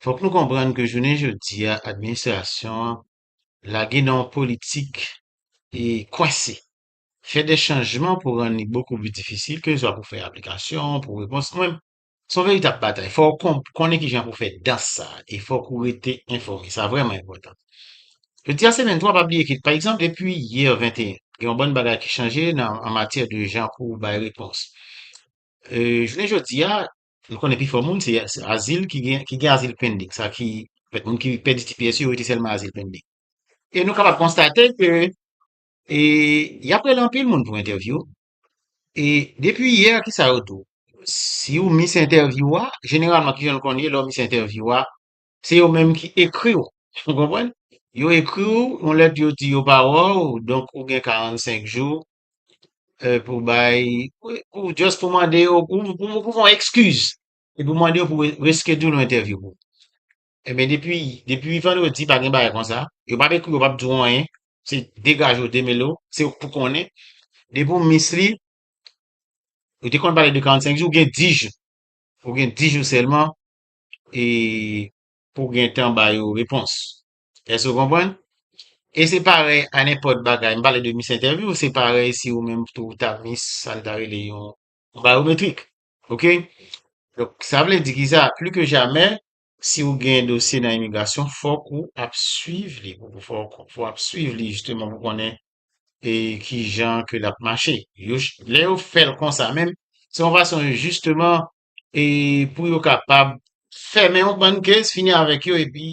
Fòk nou konprann ke jounen jodi a administrasyon an lage nan yon politik e kwense, fè dè chanjman pou rann li bokou pi difisil kezwa pou fè aplikasyon, pou repons mwen. Se yon veritab batay. Fò ou konnen kijan pou fè dans sa a e fòk ou rete enfòme. Sa vrèman enpòtan. Jodi a se 23, pa bliye ke pa egzanp depi yè 21, gen yon bann bagay ki chanje nan an matyè de jan pou bay repons. Jounen jodi a, Nou konnen pifò moun se azil ki gen ki gen azil pending, sa ki fèt moun ki pèdi tps yo rete sèlman azil pending. E nou kapab konstate ke e y ap rele anpil moun pou entèvyou e depi yè ki sa yo tou si ou mis entèvyou a jeneralman ki jan nou konn ye lè w mis entèvyou a se yo menm ki ekri w ou konprann yo ekri w yon lèt yo di yo pa wè w donk ou gen 45 jou pou bay, pou just pou mande yo, pou pou fon ekskiz, e pou mande yo pou reschedule yon entèvyou pou. E men depi, depi vandredi pa gen bagay konsa, yo pa dekri, yo pa di ou anyen, se degaje ou demele ou, se ou pou konnen, depi ou miss li, yo te konn pale de 45 jou, ou gen 10 jou, ou gen 10 jou sèlman, e pou gen tan ba yo repons. Èske ou konprann? E se parèy a nenpòt bagay, m pale de mis entèvyou, se parèy si ou menm tou ou ta mis sa n ta rele yon bayometrik. Ok? Donk, sa vle di ki sa? Pli ke jamè, si ou gen dosye nan imigrasyon, fòk ou ap suiv li, fòk ou ap suiv li jisteman pou konnen e ki jan ke l ap mache. Yo, lè yo fè l konsa menm, se yon fason jisteman e pou yo kapab fèmen yon bann case, fini avèk yo epi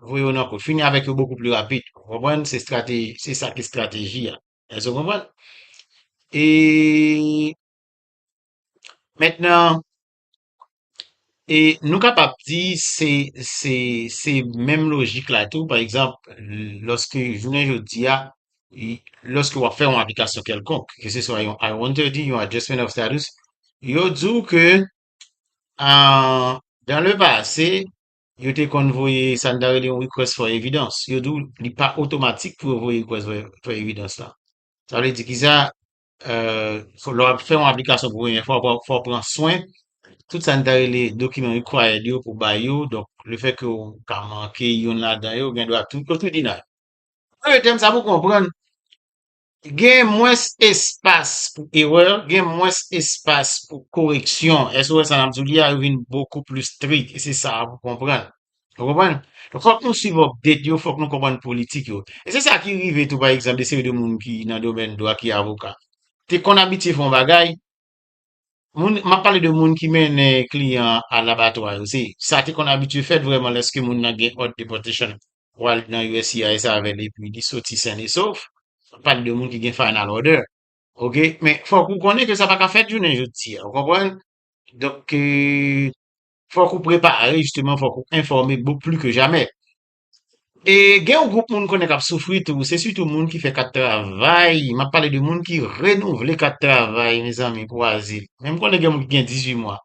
voye yo nan kou, fini avèk yo bokou pli rapid. Ou konprann? Se strateji, se sa ki strateji a. Èske ou konprann? E mentnan, e nou kapab di se, se, se menm lojik la tou, pa egzanp, lòske jounen jodi a, lòske wap fè yon aplikasyon kèlkonk, ke se swa yon I-130, yon Adjustment of Status, yo di w ke dan le pase, yo te konn voye sa nou ta rele yon Request for Evidence. Yo di w li pa otomatik pou yo voye Request for Evidence la. Sa vle di ki sa, lè wap fè yon aplikasyon pou premye fwa, fò w pran swen, tout sa nou ta rele document required yo pou bay yo, donk le fè ke w ka manke youn ladan yo, gen dwa tout, yo tout deny. Nan yon tèm sa pou konprann, gen mwens espas pou erè, gen mwens espas pou koreksyon. Èske ou wè sa n ap di w li a? Yo vin bokou plis strik. E se sa a pou konprann. Ou konprann? Donk, fòk nou suiv update yo, fòk nou konprann politik yo. E se sa ki rive tou pa egzanp de seri de moun ki nan domèn dwa ki avoka. Te konn abitye fè yon bagay, Moun, m ap pale de moun ki mennen kliyan an al abatwa yo, se sa te konn abitye fèt vrèman lèske moun nan gen òd deportation pou al nan uscis avè l epi li soti sen e sof, m ap pale de moun ki gen final order ok, men fòk ou konnen ke sa pa ka fèt jounen jodi a ou konprann, donk fòk ou prepare jisteman fòk ou enfòme bou pli ke jamè E gen yon gwoup moun konnen k ap soufri tou, se sitou moun ki fè kat travay, m ap pale de moun ki renouvle kat travay mezanmi pou azil, men m konnen gen moun ki gen 18 mwa,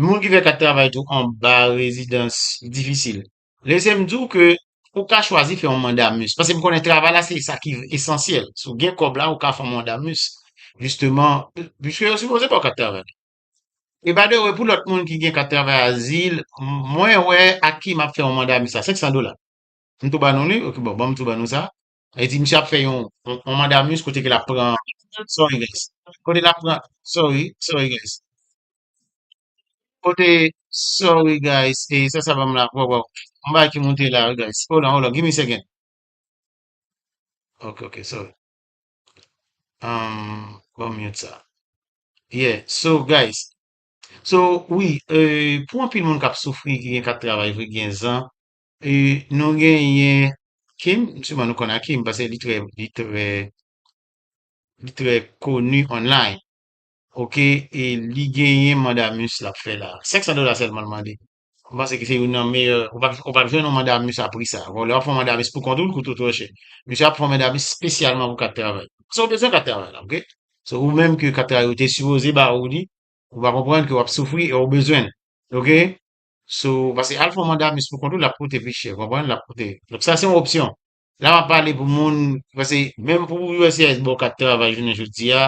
moun ki fè kat travay tou anba rezidans difisil. Lese m di w ke ou ka chwazi fè yon mandamus, paske m konnen travay la se sa ki esansyèl, si w gen kòb la ou ka fè yon mandamus jisteman, piske yo sipoze ba w kat travay. E by the way pou lòt moun ki gen kat travay azil mwen wè ak ki map fè yon manda mista 500 dola m tou ba nou li ok bon banm tou ba nou sa e di misye ap fè yon yon manda mis kote ke lap pran sorry guys kote lap pran sorry sorry guys kote sorry guys e sa sa banm la waw waw yon bagay ki moute la wi guys hold on hold on give me a second ok ok sorry Um, bon mute sa. Yeah, so guys, so wi, euh, pou anpil moun kap soufri ki gen kat travay vre gen zan, euh, nou genyen Kim, siman nou konn Akim pase li trè li trè li trè konu online. Ok, e li genyen mandamus lap fè la. 500 dola sèlman l mande. M panse ki se youn nan meyè, ou pap ou pap jwenn yon manda a misye a pri sa. Bon, lè wap fè yon manda a misye pou kont ou, l koute w twò chè. Misye ap fè yon manda a misye spesyalman pou kat travay. Paske ou bezwen kat travay la, ok? Se ou menm ke kat travay yo te sipoze ba ou li, ou pa konprann ke wap soufri e ou bezwen l, ok? So, paske al fè yon manda a misye pou kont ou, lap koute pi chè, konprann? Lap koute. Donk sa se yon opsyon. La m ap pale pou moun, pase menm pou USCIS ba w kat travay jounen jodi a,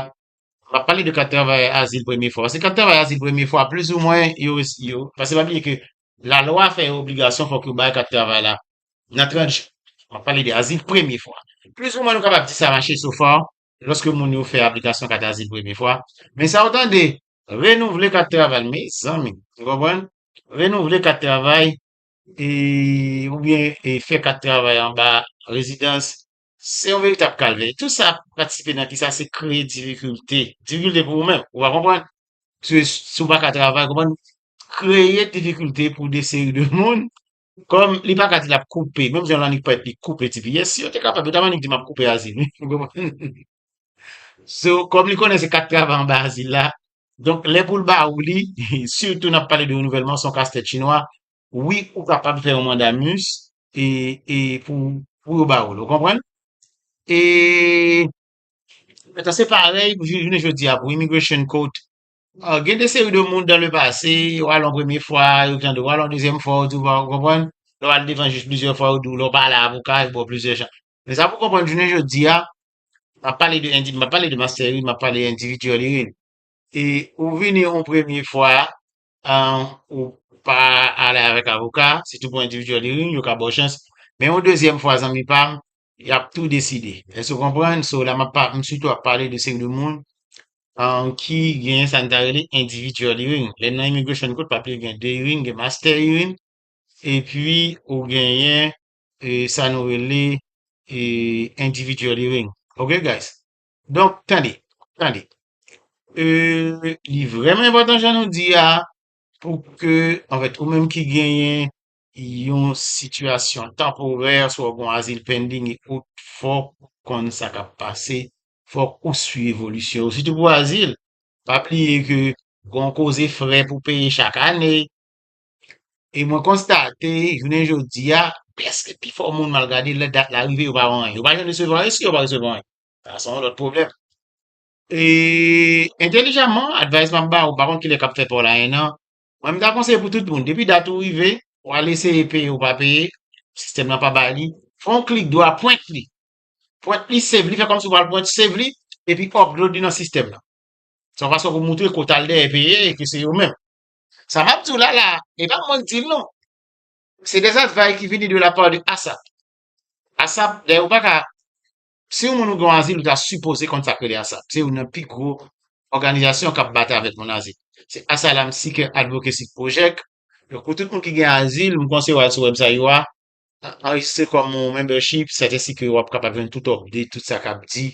m ap pale de kat travay azil premye fwa. Pase kat travay azil premye fwa, plis ou mwen, yo, yo, pase pa bliye ke lalwa fè yo obligasyon fòk yo bay kat travay la nan 30 jou. M ap pale de azil premye fwa. Plis ou mwen nou kapab di sa mache sofa lòske moun yo fè aplikasyon kat azil premye fwa. Men sa ou tande, renouvle kat travay, mezanmi, ou konprann? Renouvle kat travay oubyen fè kat travay anba rezidans, se yon veritab kalvè. Tout sa patisipe nan kisa se kreye difikilte, difikilte pou ou menm, ou pa konprann? Pske si ou pa ka travay, konprann, kreye difikilte pou de seri de moun, kòm li pa ka di l ap koupe, menm jan l annik pèt li koupe ti piyès, si yo te kapab, yo t ap annik di m ap koupe azil, ou konprann? So, kòm li konnen se kat travay anba azil la, Donk lè pou l ba ou li, sitou n ap pale de renouvèlman, se yon kastèt chinwa, wi ou kapab fè yon mandamus e pou yo ba ou l, ou konprann? E se parèy pou jounen jodi a pou Immigration Court, gen de seri de moun dan le pase, ou al yon premye fwa, yo tande w, ou al yon dezyèm fwa yo di w pa, ou konprann? Lè w al devan jij plizyè fwa yo di w lè w pa ale avoka yo ba w plizyè chans. Men sa pou w konprann jounen jodi a, Map pale de indi, map pale de mastè wi, map pale individuel li wi. E ou vini yon premye fwa an ou pa ale avèk avoka, sitou pou individuel li wi, yo ka baw chans. Men yon dezyèm fwa zanmi pam, yap tou deside. Èske ou konprann? So la map pa, m sitou ap pale de seri de moun an ki gen sa n ta rele individuel hearing. Lè nan immigration court pap li gen 2 hearing, gen mastè hearing epi ou genyen sa nou rele individual hearing ok guys donk tande tande li vreman enpotan jan nou di a pou ke anfèt ou menm ki genyen yon sitiyasyon tanporè swa ou gon azil pending fòk ou konn sa kap pase fòk ou swiv evolisyon yo sitou pou azil pa bliye ke gon koze frè pou peye chak ane E mwen konstate, jounen jodi a, preske pi fò moun mal gade lè dat la rive yo pa wè anyen. Yo pa janm resevwa anyen, si yo pa resevwa anyen, sa son lòt pwoblèm. E entelijaman, advice map ba ou, pa konn kilè kap fè paw la 1 an, mwen m ta konseye pou tout moun, depi dat ou rive, ou al eseye peye ou pa peye, sistèm lan pa ba li, fè yon klik dwa, print li, print li, save li, fè kòmsi ou pral print, save li, epi upload li nan sistèm lan. Se yon fason pou moutre ke ou tal dèyè peye e ke se yo menm. Sa map di w la la, e pa mwen k di l non. Se des advay ki vini de la part de ASAP. ASAP, dayè ou pa ka, si yon moun ou gen yon azil ou ta sipoze konn sa k rele ASAP. Se youn nan pi gwo òganizasyon k ap batay avèk moun azil. Se Asylum Seeker Advocacy Project. Donk pou tout moun ki gen azil, m konseye w al sou wèbsay yo a, anrejistre kòm yon membership, sèt ensi ke wap kapab jwenn tout update, tout sa kap di,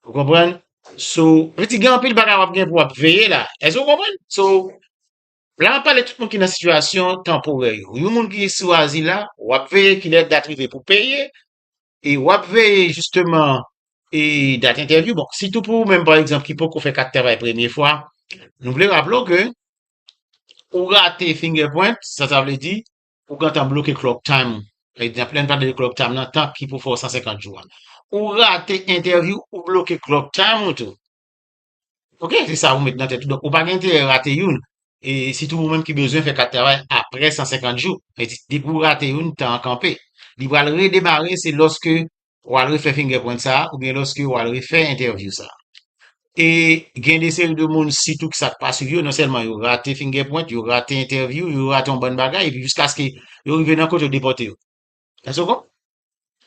ou konprann, so, vle di gen anpil bagay wap gen pou wap veye la, èske ou konprann? So, la map pale tout moun ki nan sitiyasyon tanporè yo, yon moun ki sou azil la, wap veye kilè dat rive pou peye, e wap veye jisteman e dat entèvyou, bon, sitou pou ou menm pa egzanp ki poko fè kat travay premye fwa, nou vle raple w ke ou rate fingerprint, sa sa vle di, Ou gentan bloke clock time ou. Lè n pale de clock time nan, tan ki pou fè w 150 jou a. Ou rate entèvyou, ou bloke clock time ou tou. Ok, se sa ou met nan tèt ou. Donk ou pa gen enterè rate youn. E sitou ou menm ki bezwen fè kat travay aprè 150 jou. Depi ou rate youn, tan an kanpe. Li pral redemare se lòske w al refè fingerprint sa a oubyen lòske w al refè entèvyou sa a. E gen de seri de moun sitou ki sa k pa swiv yo, non sèlman yo rate fingerprint, yo rate entèvyou, yo rate yon bann bagay epi jiskaske yo rive nan kot yo depòte yo. Èske ou konpran?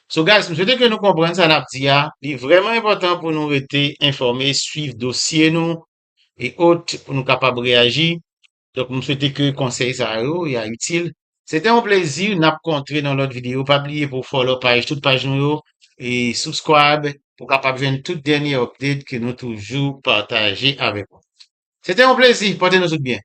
So guys, m swete ke nou konprann sa n ap di a. Li vrèman enpòtan pou nou rete enfòme, swiv dosye nou e ot pou nou kapab reyaji. Donk m swete ke konsèy sa yo ya itil. Se te yon plezi, nap kontre nan lòt video, pa bliye pou w follow paj tout paj nou yo e subscribe pou w kapab jwenn tout dènye update ke nou toujou pataje avèk ou. Se te yon plezi, pote nou tout byen.